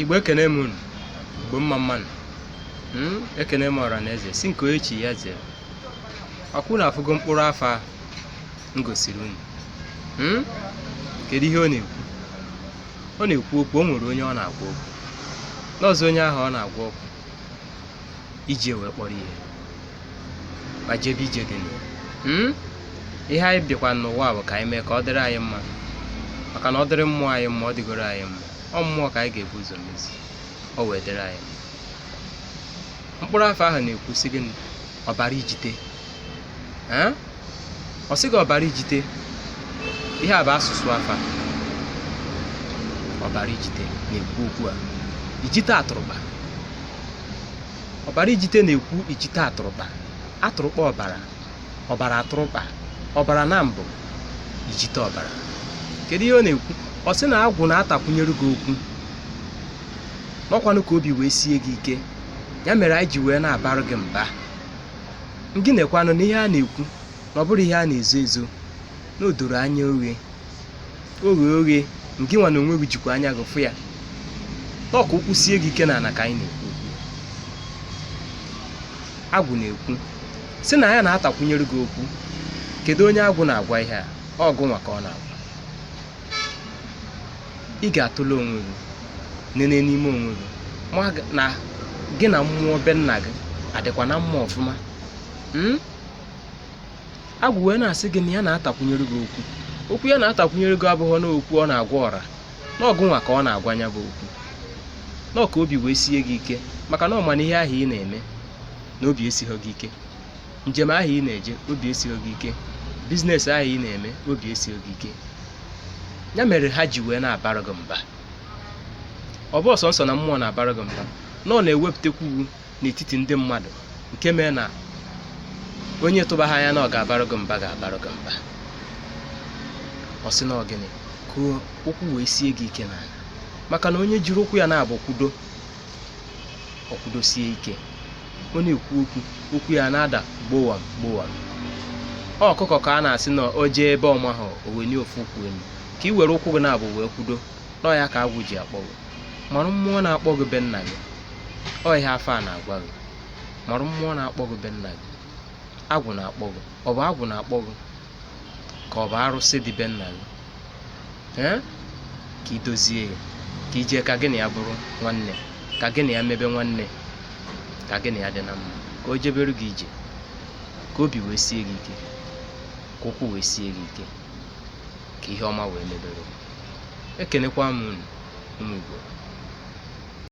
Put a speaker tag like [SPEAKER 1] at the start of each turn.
[SPEAKER 1] igbo ekene m unu igbo mma mmanụ hmm? ekene m ọra na eze sị nke onye chi ya zere ọkwa unu afụgo mkpụrụ afa m gosiri unu hmm? kedu ihe ọ na-ekwu ọ na-ekwu okwu o nwere onye ọ na-agwa okwu n'ụzọ onye ahụ ọ na-agwa okwu iji wee kpọrọ ihe ma jebe ije dị na ya Hmm? ihe anyị bịakwa n'ụwa bụ ka anyị mee ka ọ dịrị anyị mma maka na ọ dịrị mmụọ anyị mma ọ dịgoro anyị mma ọ mmụọ ka anyị ga-ebu ụzọ mezi ọ wee dịrị anyị mma. mkpụrụ afa ahụ na-ekwu sị gịnị ọbara ijite ee ọ sị gị ọbara ijite ihe a bụ asụsụ afa ọbara ijite na-ekwu okwu a ijite atụrụkpa ọbara ijite na-ekwu ijite atụrụkpa atụrụkpa ọbara ọbara atụrụkpa ọbara na mbụ ijite ọbara kedu ihe ọ na-ekwu ọ sị na agwụ na-atakwunyere gị okwu na ọkwanụ ka obi wee sie gị ike ya mere anyị ji wee na-abara gị mba Gị nekwanụ na ihe a na-ekwu na ọ bụrọ ihe a na-ezo ezo na o doro anya oghe oghe oghe ngị nwa na onwe gị jikwa anya gị fụ ya taa ọ ka ụkwụ sie gị ike n'ala ka anyị na-ekwu okwu agwụ na-ekwu sị na ya na-atakwunyere gị okwu kedu onye agwụ na-agwa ihe a ọ gụnwa ka ọ na-agwa ị ga-atụle onwe gị nene n'ime onwe gị ma gị- na gị na mmụọ be nna gị adịkwa na mma ọfụma Mm? agwụ wee na-asị gị na ya na-atakwunyere gị okwu okwu ya na-atakwunyere gị abụghị na okwu ọ na-agwa ọra na ọ gụnwa ka ọ na-agwa ya bụ okwu na ọ ka obi wee sie gị ike maka na ọ ma na ihe ahụ ị na-eme na obi esighị gị ike njem ahụ ị na-eje obi esighị gị ike biznes ahụ ị na-eme obi esighị gị ike ya mere ha ji wee na-abara gị mba ọ bụhọ sọsọ na mmụọ na-abara gị mba na ọ na-ewepụtakwu gị n'etiti ndị mmadụ nke mee na onye ị tụbaha anya na ọ ga-abara gị mba ga-abara gị mba ọ sị na ọ gịnị ka ụkwụ wee sie gị ike n'ala maka na onye jiri ụkwụ ya naabọ kwudo o kwudosie ike ọ na-ekwu okwu okwu ya na-ada gbowam gbowam ọ ọkụkọ ka a na-asị na o jee ebe ọ maha o wenie ofu ụkwụ elu ka i were ụkwụ gị naabọ wee kwudo na ọ ya ka agwụ ji akpọ gị marụ mmụọ na-akpọ gị be nna gị ọ ihe afa a na-agwa gị marụ mmụọ na-akpọ gị be nna gị agwụ na-akpọ gị ọ bụ agwụ na-akpọ gị ka ọ bụ arụsị dị be nna gị ee ka i dozie ya ka i jee ka gị na ya bụrụ nwanne ka gị na ya mebe nwanne ka gị na ya dị na mma ka o jebere gị ije ka obi wee sie gị ike ka ụkwụ wee sie gị ike ka ihe ọma wee mebere gị. ekenekwa m unu ụmụ igbo